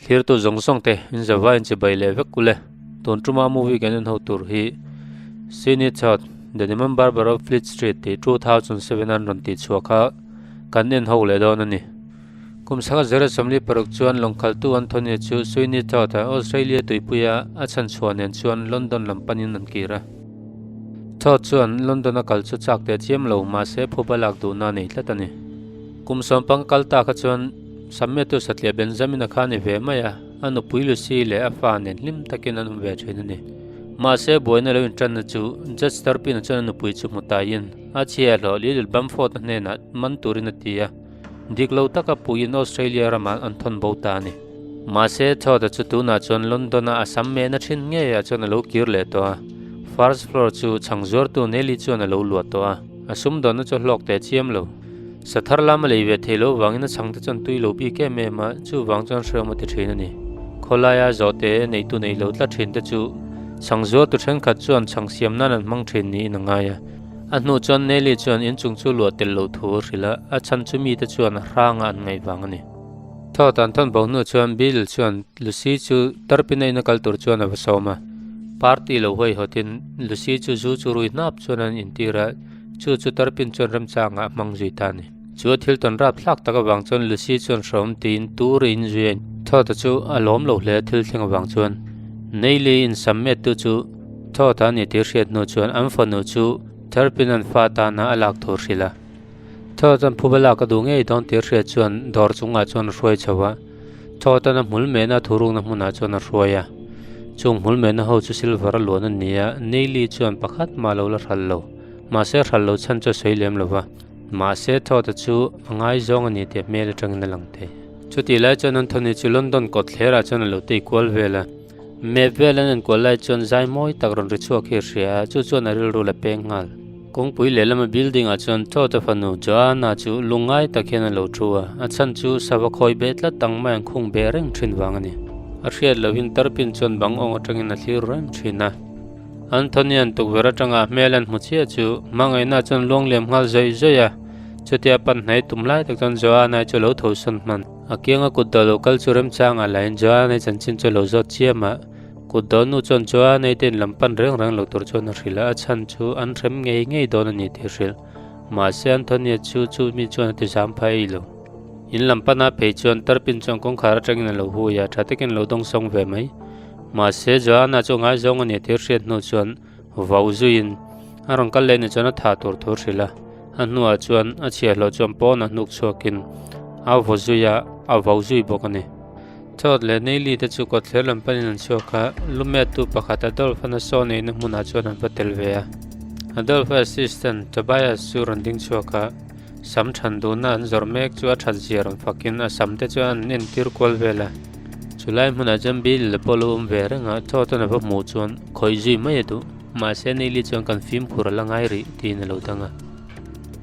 thlir tu zawng zawng te inzir va inchi bai leh vek kule tun tuma movie kan inho tur hi sini chawt the demon barber of fleet street tih two thousand seven a rawn tih chhuak a kan inho leh dawn a ni. Kum sanga Zara Somli paruk chuan lawngkaltu Anthony chu Sweeney Todd a Australia tuipuia a chhan chhuah nen chuan London lam panin an kir a. Todd chuan London a kal chu chak teh chiam lo, mahse phup a lak duhna nei tlat a ni. Kum sawm panga kal ta kha chuan Sammetu satliah Benjamin a kha ni ve mai a, a nupui Lucy leh a fa nen hlim takin an awm ve thin a ni. Mahse buaina lo inṭanna chu Judge Turpin-a chuan a nupui chu hmu taiin a chhia hlawh Lilith Bamford-a hnenah man turin a ti a. Dik lo taka puiin Australia ramah an thawn bo ta a ni. Mahse, chhuata chu tunah chuan London-a a sam mehna thin ngei ah chuan a lo kir leh tawh a. First floor chu chhang zuartu Nelly chuan a lo luah tawh a. A sum dawnna chu a hlawk teh chiam lo. Sathar lam a lei ve thei lo vangin a chhangte chuan tui lo bik em em a, chuvang chuan hreawm a ti thin a ni. Khawlaia zawhte neitu nei lo tla thinte chu chhang zuartu thenkhat chuan chhang siam nan an hmang thin niin a ngai a. A hnu chuan Nelly chuan in chung chu luah tel lo thu a hrilh a, a chhan chu mite chuan a hrang a an ngaih vang a ni. Thaw tan thawn bo hnu chuan Bill chuan Lucy chu tarpin a in a kal tur chuan a va sawm a, party lo hawi hawt in Lucy chu zu chu rui hnap chuan an intir a, chu chu tarpin chuan remchang ah a hmang zui ta a ni. Chu a thil tawn rap thlak tak avang chuan Lucy chuan hrawm tiin tur a inzui a, Thawta chu a lawm lo hle a thil thleng avang chuan Neilly in sam met tu chu Thawta a ni tih a hriat hnu chuan an fanu chu Therpin an fa tana a lak tur hrilh a. Thawt an phuba lak a duh ngei dawn tih a hriat chuan dawr chungah chuan a hruai chho a, Thawtan a hmul mehna thu rukna hmunah chuan a hruai a, chung hmul mehna ho chu Silver a luan a nia, Neilly chuan pakhat mah lo la hral lo, mahse hral lo chhan chu a sawi lem lova. Mahse thawta chu a ngai zawng a ni tih hmel atangin a lang thei. Chutih lai chuan Anthony chu London kawtthlerah chuan a lo tei kual vel a, map vel an en kual lai chuan zai mawi tak rawn ri chhuak hi a hria a, chu chuan a rilru la peng nghal. Kawngpui lehlama building ah chuan thawta fanu Joanna chu lung ngai tak hian a lo thu a, a chhan chu sava khawi beh tlat ang maiah an khung beh reng thin vang a ni. A hriat lohin tarpin chuan bang awng atangin a thlir reng thin a. Anthony-a'n tukverh aṭanga hmel an hmu chiah chu hmangaihnaah chuan luang lem nghal zai zai a, chutia pan hnai tum lai tak chuan Joanna-i chu a lo tho sawn hman. A kianga kut dawh lo kal chu remchanga lahin Joanna-i chanchin chu a lo zawt chiam a, kut dawh nu chuan Joanna-i te in lam pan reng reng lo tur chuan a hrilh a, a chhan chu an hrem ngei ngei dawn a ni tih a hrilh. Mahse Anthony-a chu chumi chuan a tizam phah ei lo. In lam pan a phei chuan tarpin chuan kawngkhar aṭangin a lo hui a, ṭha takin a lo dawng sawng ve mai. Mahse Joanna chu ngai zawng a nih tir hriat hnu chuan vau zuiin a rawn kal leh ni chuan a tha tur thu hrilh a. A hnuah chuan a chhiahhlawh chuan pawn a hnuk chhuakin a vaw zui a, a vau zui bawk a ni. Chawt leh Neily te chu kawtthler lam panin an chhuak a, lu mettu pakhat Adolf-a nasawn eina hmunah chuan an va tel ve a. Adolf-a assistant Tobias chu rawn ding chhuak a. Sam chhan dunna an zawrh mek chu a chhat zia rawn fakin a sam te chuan an entir kual vel a. Chu lai hmunah chuan Bailey leh Paul-u awm ve reng a, Thawton a va hmuh chuan khawih zui mai a duh. Mahse Neil-i chuan kan fimkhur a la ngai rih tiin a lo dang a.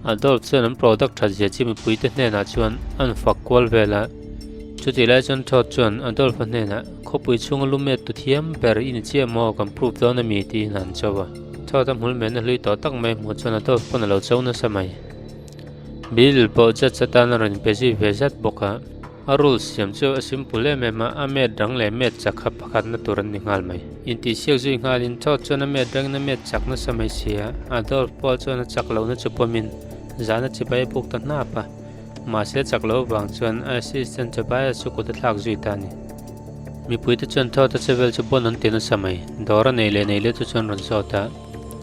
Adolf chuan an product chhat zia chi mipui te hnenah chuan an fak kual vel a. Chuti lai chuan Thawt chuan Adolf-a hnenah, Khawpui chhunga lu met tu thiam ber i ni chiah maw, kan prove dawn a mi tiin a han cho a. Chhuat a hmul mehna hlui tawh tak mai hmuh chuan a tawp pawn a lo cho nasa mai. Bill pawh judge atan a rawn inpe zui ve zat bawk a. A rules siam chu a simple em em a, a met rang leh met chak kha pakhatna tur an ni nghal mai. Intihsiak zui nghalin chhuat chuan a met rangin a met chak nasa mai si a, Adolf pawh chuan a chak lohna chu pawmin zana chibai a puk ta hnap a. Mahse chak lo vang chuan Assistant Tobias chu kut a thlak zui ta a ni. Mipui te chuan thawta che vel chu bon an ti nasa mai. Dawr a nei leh nei le chu chuan rawn saw ta.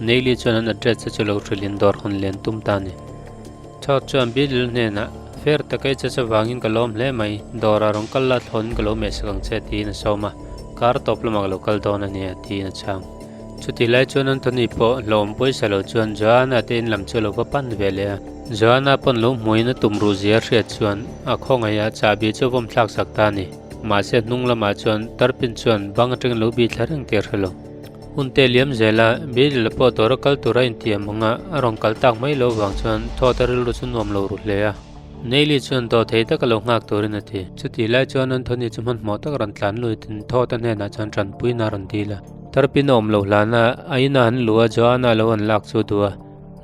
Neili chuan an address te chu lo hrilh in dawr hun len tum ta a ni. Chawt chuan Bilil hnenah, Fair takei che che vangin ka lawm hle mai, dawrah rawn kal la thlawnin ka lo meh sak ang che tiin a sawm a, kar tawp lamah ka lo kal dawn a nia tiin a chhang. Chuti lai chuan Anthony pawh hlawhawm pawisa lo chuan Joanna te in lam chu a lo va pan ve leh a. Joanna pawn lo hmuin a tum ruh zia hriat chuan a khawngaih ah chahbi chu a vawm thlak sak ta a ni. Mahse hnung lamah chuan Turpin chuan bang atang in lo bi thla reng tir hrelo. Hun te liam zela Beryl a pawh dawra kal tura inti ang hmanga a rawn kal tak mai lo vang chuan thawt a rilru chu nuam lo ru hle a. Neily chuan dawh thei taka lo nghak turin a ti. Chuti lai chuan Anthony chu hmanhmawh tak a rawn tlan luitin thawta hnenah chuan tanpuina a rawn dil a. Tarpin a awm lo hlana a ina an luh a Joanna lo an lak chu a du a,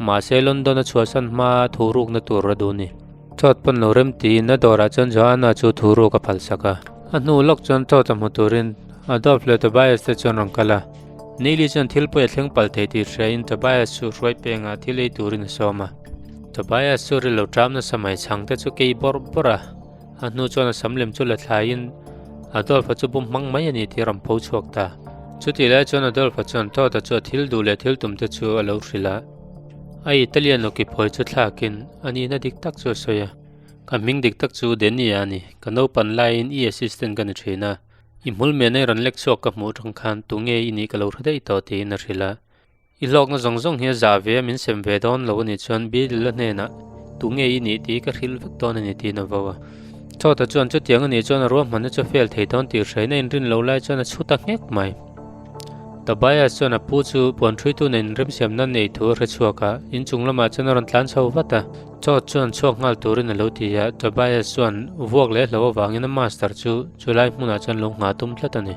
mahse London a chhuahsan hma a thu rukna tur a duh ni. Chawt pawn lo rem tiin a dawrah chuan Joanna chu thu ruk a phalsak a. A hnu lawk chuan chawt a hmu turin Adolf leh Tobias te chu an rawn kal a, Neilly chuan thil pawh i a thleng palh thei tih hriain Tobias chu hruai pengah thil ei turin a sawm a. Tobias chu rilru ṭam nasa mai chhang te chu kei bawrh bawrh a. A hnu chuan a sam lem chu la thlaiin Adolfa chu bum hmang mai a ni tih a rawn pho chhuak ta. Chutih lai chuan Adolfa chuan Todd-a chuan thil duh leh thil tum te chu a lo hrilh a. A Italian nuki phawi chu thlakin a nihna dik tak chu a sawi a, Ka hming dik tak chu Denny-a a ni. Ka naupan laiin i assistant ka ni thin a, i hmul mehna i rawn lek chhuak ka hmuh tang khan tunge i nih ka lo hre daih tawh tiin a hrilh a. I hlawkna zawng zawng hi a zah ve a min sem ve dawn lo a nih chuan Bilila hnenah Tunge i nih tih ka hrilh vek dawn a ni tiin a vo a. Chawta chuan chutiang a nih chuan a ruahmanna chu a fel thei dawn tih hreina a inrin lo lai chuan a chhu ta nghek mai. Tobias chuan a pu chu puan ṭhuituna in remsiam nan neih thu a hre chhuak a, in chung lamah chuan a rawn tlan chho vat a. Chawt chuan chhuak nghal turin a lo ti a, Tobias chuan vuak leh hlo avangin a master chu chu lai hmunah chuan lo nghah tum tlat a ni.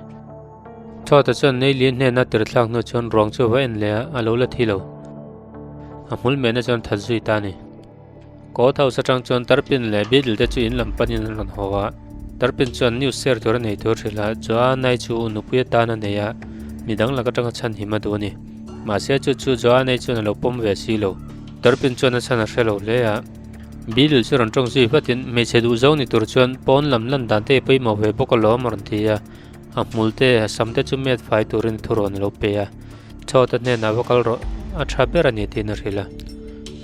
Chhuata chuan Neilin hnena tirhthlak hnu chuan ruang chu va en leh a, a lo la thi lo. A hmul mehna chuan that zui ta ni. Court House atang chuan Tarpin leh Beadle te chu in lam panin an rawn haw a. Tarpin chuan news share tur a nei tur hrilh a, Joanna-i chu u nupui atan a nei a, mi dang lak atanga chhan him a duh a ni. Mahse chu chu Joanna-i chuan a lo pawm ve si lo. Tarpin chuan a chhan a hre lo hle a. Beadle chu rawn tawng zui vatin hmeichhe duh zo ni tur chuan pawn lam lan dan te i pawimawh ve bawk alawm a rawn ti a. a hmulte a sam te chu met fai turin thu rawn lo pe a chhote hnenah va kal rawh a tha ber a ni tiin a hrilh a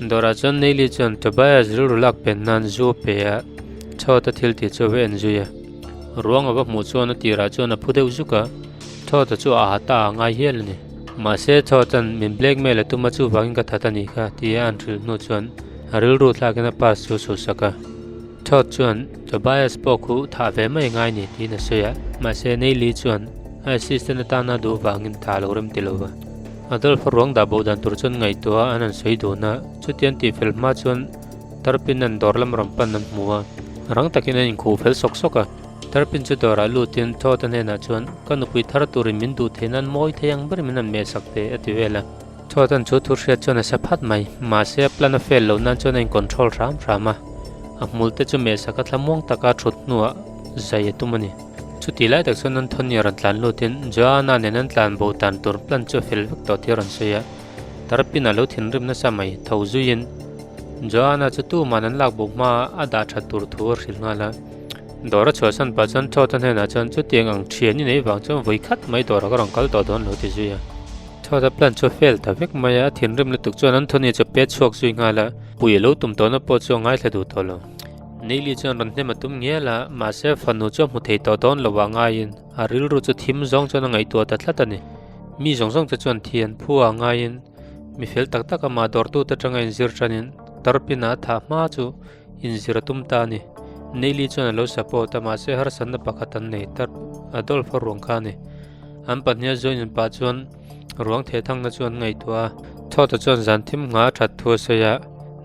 dawrah chuan neili chuan Tobias rilru lak pen nan zu pe a chhote thil tih chu a va en zui a ruang a va hmuh chuan a tirah chuan a phu deuh zuk a chhote chu a ata a ngai hial a ni mahse chhoten min blackmail a tuma chu vangin ka that a ni kha tia an hrilh hnu chuan rilru thlakin a pass chu suhsak a chhote chuan Tobias pawh khu thah ve mai ngai ni tiin a sawi a, mahse Neilly chuan a assistant atana duh vangin tha a lo rem ti lo va. Adolf ruang dah boh dan tur chuan ngaihtuaha an han sawi dun a, chutiang tih fel hma chuan Turpin an dawr lam rawn pan an hmu a, rang takin an inkhuh fel sawk sawk a. Turpin chu dawrah lutin Todd-a hnenah chuan, Ka nupui thar turin min duh theih nan mawi thei ang ber min han meh sak teh a ti vel a. Chhuatan chu thu hriat chuan a sa phat mai, mahse a plan a fail loh nan chuan a in control hram hram a. A hmul te chu meh saka thla muang taka thut hnuah zai a tum a ni. Chuti lai tak chuan an Tony-a rawn tlan lutin Joanna nen an tlan bo tan tur plan chu a fel vek tawh tir a rawn sawi a. Tarapin-a lo thinrim nasa mai, tho zuiin Joanna chu tuman an lak bo hmaa a dah that tur thu a hrilh nghal a. Dawr a chhuah san pah chuan Chhuatan hnenah chuan chuti eng ang thian inei vang chuan vui khat mai dawrah ka rawn kal tawh dawn lo ti zui a. Chhuata plan chu a fail ta vek mai a, a thinrim lutuk chuan Anthony chu a pe chhuak zui nghal a, Puii a lo tum tawh na pawh chu a ngaithla duh tawh lo. Neilly chuan rawn hnem a tum ngial a, mahse fanu chu a hmu thei tawh dawn lovah ngaiin a rilru chu thim zawng chuan a ngaihtuah ta tlat a ni. Mi zawng zawng te chuan thi an phu a, ngaiin mi fel tak tak a mah dawrtute atanga in zir tanin tarpin a a thah hma chu, inzir a tum ta a ni. Neili chuan a lo support a mahse harsatna pakhat an nei tlat, a Dolpha ruang kha a ni. An pahniha zawinin pah chuan ruang thehthangna chu an ngaihtuah a. Thawta chuan zan thim ngha a that thu a sawi a,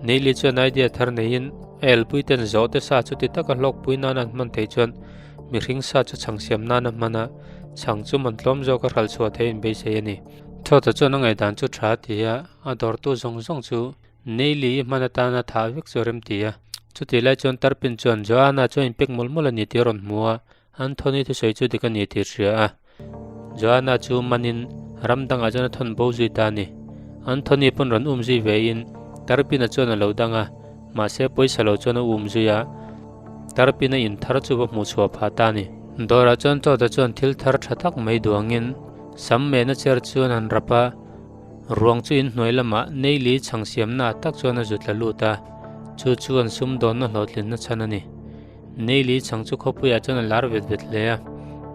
Neili chuan idea thar neiin a elpui ten zawhte sa chu ti taka hlawkpui nana an hman thei chuan mihring sa chu chhang siam nana hman a, chhang chu man tlawm zawk a hralh chhuah theih in beisei a ni. Thawta chuan a ngaihdan chu tha a ti a, a dawrtu zawng zawng chu Neili i hman atan a thah vek chu a rem ti a. Chutih lai chuan Tarpin chuan Joana chu a inpek mawlh mawlh a ni tih a rawn hmu a, Anthony thusawi chu dik a ni tih a hria a. Joana chu manin ram dangah chuan a thawn bo zui ta a ni. Anthony pawn rawn um zui ve in Tarpina chuan a lo dang a, mahse pawisa lo chuan a um zui a, Tarpina in thar chu va hmu chhuah phah ta a ni. Dawrah chuan Chawta chuan thil thar tha tak mai duangin sam mehna cher chuan an rap a, Ruang chu in hnuai lamah Neili chhang siamnaah tak chuan a zut la lut a, chu chuan sumdawnna hlawhtlinna chhan a ni. Neili chhang chu khawpuiah chuan a lar vet vet hle a,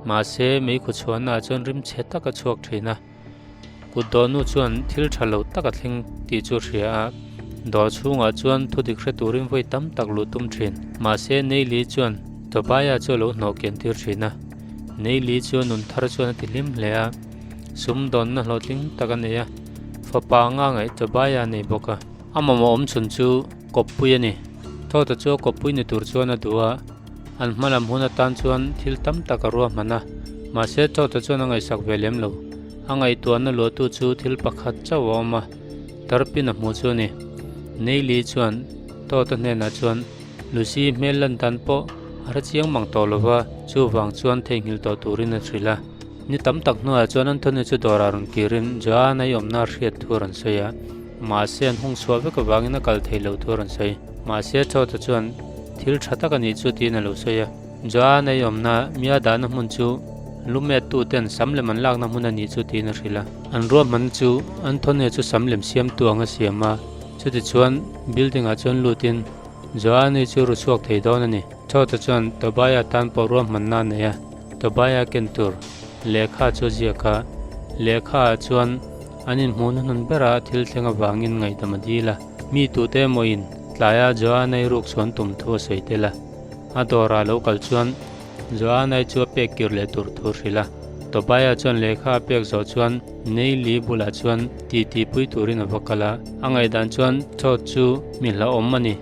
mahse meikhu chhuanah chuan rim che tak a chhuak thin a. Kutdawnu chuan thil tha lo tak a thleng tih chu a hria a, dawr chhungah chuan thu dik hre turin vawi tam tak luh tum thin. Mahse Neili chuan Tobiah chu a lo hnawh kian tir thin a, Neili chu a nun thar chuan a ti hlim hle a, Sumdawnna hlawh tling tak a nei a, fapa anga ngaih ta bai a nei bawk a. A mawmawh awm chhun chu Kawppui a ni. Thawta chu a Kawppui ni tur chuan a duh a, an hma lam hun atan chuan thil tam tak a ruahman a. Mahse, Thawta chuan a ngaihsak ve lem lo. A ngaihtuahna luahtu chu thil pakhat chauh a awm a, Tarpin a hmu chu a ni. Neili chuan Thawta hnenah chuan, Lucy-i hmel lan dan pawh a hre chiang mang tawh lo va, chuvang chuan theihnghilh tawh turin a hrilh a. Ni tam tak hnuaiah chuan Anthony chu dawrah rawn kirin Joanna-i awmna a hriat thu a rawn sawi a, mahse an hung chhuah vek avangin a kal thei loh thu a rawn sawi. Mahse Chota chuan, Thil tha tak a ni chu tiin a lo sawi a. Joanna-i awmna mia dahna hmun chu lu mettuten sam lem an lakna hmun a ni chu tiin a hrilh a. An ruahmanna chu Anthony chu sam lem siamtu anga siam a, chutichuan building-ah chuan lutin Joanna-i chu ru chhuak thei dawn a ni. Chhote chuan Tobiah tan pawh ruahmanna nei a, Tobiah ken tur lehkha chu ziak a, lehkha ah chuan an inhmuh na hmun berah a thil thleng avangin ngaihdam a dil a, mi tute emawiin tlaiah Joanna-i rukchhuan tum thu a sawi tel a, a dawrah lo kal chuan Joanna-i chu a pek kir leh tur thu a hrilh a, Tobiah chuan lehkha a pek zawh chuan Neilly bulah chuan titi pui turin a va kal a, a ngaihdan chuan Chhote chu mi hlauhawm a ni.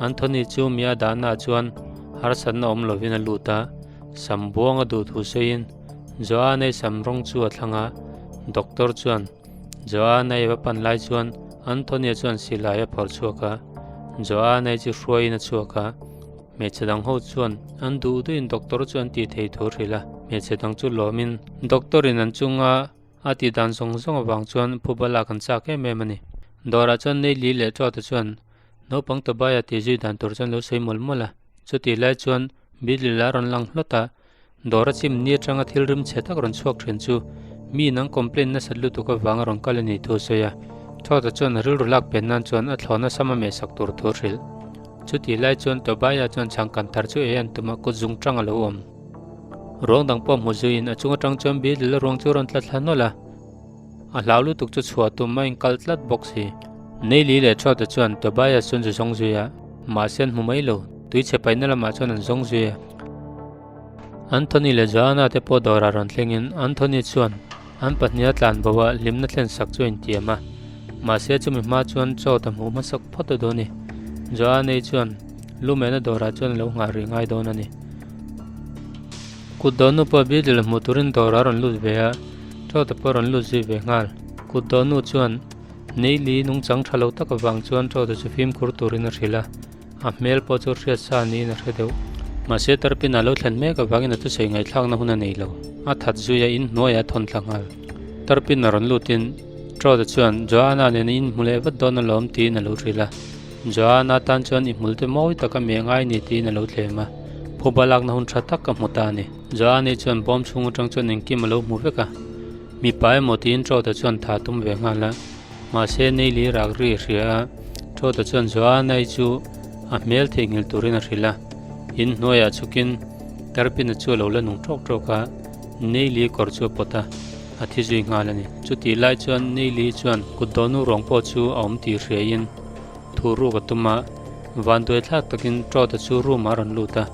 Anthony chu mia danah chuan harsatna awm lovin a lut a, sam buang a duh thu sawiin Joanne-i sam rawng chu a thlang a. Doctor chuan Joanne-i va pan lai chuan Anthony-a chuan silai a phawrh chhuak a, Joanne-i chu hruaiin a chhuak a. Hmeichhe dang ho chuan an duh duhin doctor chu an tih thei thu a hrilh a, hmeichhe dang chu lawmin doctor-in an chunga a tih dan zawng zawng avang chuan phubalak an chak em em a ni. Dawrah chuan Neily leh Trout-a chuan Naupang Tobia tih zui dan tur chuan lo sawi mawlh mawlh a, chutih lai chuan Billy la rawn lang hlawt a, dawr a chim ni atanga thil rimchhe tak rawn chhuak thin chu mi in an complain nasat lutuk avang a rawn kal a nih thu a sawi a, chhuata chuan a rilru lak pian nan chuan a thlawna sam a meh sak tur thu a hrilh. Chutih lai chuan Tobia chuan chhang kan thar chu ei an tum a, kut zung tang a lo awm. Ruang dang pawh hmu zuiin a chung atang chuan Billy la ruang chu a rawn tla thla nawlh a, A hlau lutuk chu chhuah tum a inkal tlat bawk si. Neili leh Trote chuan Tobias chu an ze zawng zui a, mahse an hmu mai lo. Tui chhe paihna lamah chuan an zawng zui a. Anthony leh Joanna te pawh dawrah rawn thlengin Anthony chuan an pahniha tlan bo a hlimna thlen sak chu a intiam a. Mahse chumi hma chuan chawt a hmu hmasak phawt a dawn a ni. Joanna-i chuan lumehna dawrah chuan a lo nghah rih ngai dawn a ni. Kut dawn nu pawh Biaklil hmuh turin dawrah a rawn lut ve a, ṭo te pawh a rawn lut zui ve nghal. Kut dawn nu chuan Nei Li nungchang ṭha lo taka vang chuan ṭo te chu fimkhur turin a hrilh a, a hmel pawh chu hriat sa niin a hre deuh. Mahse tarpinah lo thlen mek avangin a thusei ngaihthlakna hun a nei lo. A that zui a in hnuaia thawn tla nghal. Tarpin a rawn lutin ṭo te chuan Joana nen in hmu leh vat dawn alawm tiin a lo hrilh a. Joan a tan chuan i hmulte mawi tak a mi a ngai ni tiin a lo tlem a, phup a lakna hun tha tak ka hmu ta a ni. Joan hi chuan bawm chhung atang chuan engkim a lo hmu vek a, mipa emaw tiin Troda chuan tha tum ve nghal a, mahse Neily rak ri a hria a, Troda chuan Joan ei chu a hmel theihnghilh turin a hrilh a, in hnuaiah chukin Karpina chu a lo la nung trawk trawk a, Neily kawr chu a pawt a, a thi zui nghal a ni. Chutih lai chuan Neily chuan kut dawnu rawng pawh chu a awm tih hria in, thu ruk a tum a, vanduai thlak takin Troda chu room ah a rawn lut a.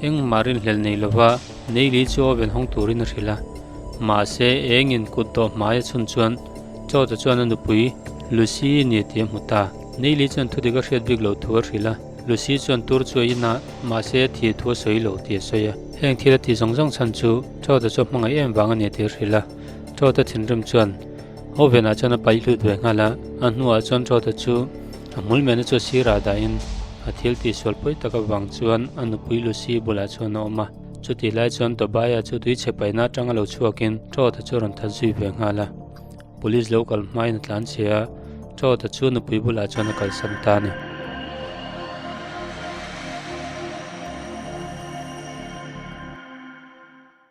Engmah rinhlelh nei lova Neili chu oven hawng turin a hrilh a. Mahse, engin kut dawh hmai a chhun chuan Troda chuan a nupui Lucy a ni tih a hmu ta. Neili chuan thudik a hriat bik lo thu a hrilh a, Lucy chuan tur chu a in a, mahse a thih thu a sawi lo tih a sawi a. Heng thil a ti zawng zawng chhan chu Troda chu a hmangaih em vang a ni tih a hrilh a, Troda thinrim chuan. Oven ah chuan a paih hlut ve nghal a, a hnu ah chuan rawt a chu a hmul mehna chu a sir ah dah in a thil tih sual pawi tak avang chuan a nupui Lucy bulah chuan a awm a, chutih lai chuan Tobai a chu tui chhe paih na atang a lo chhuak in rawt a chu a rawn that zui ve nghal a, police lo kal hma in a tlan che a, rawt a chu nupui bulah chuan a kal san ta ni.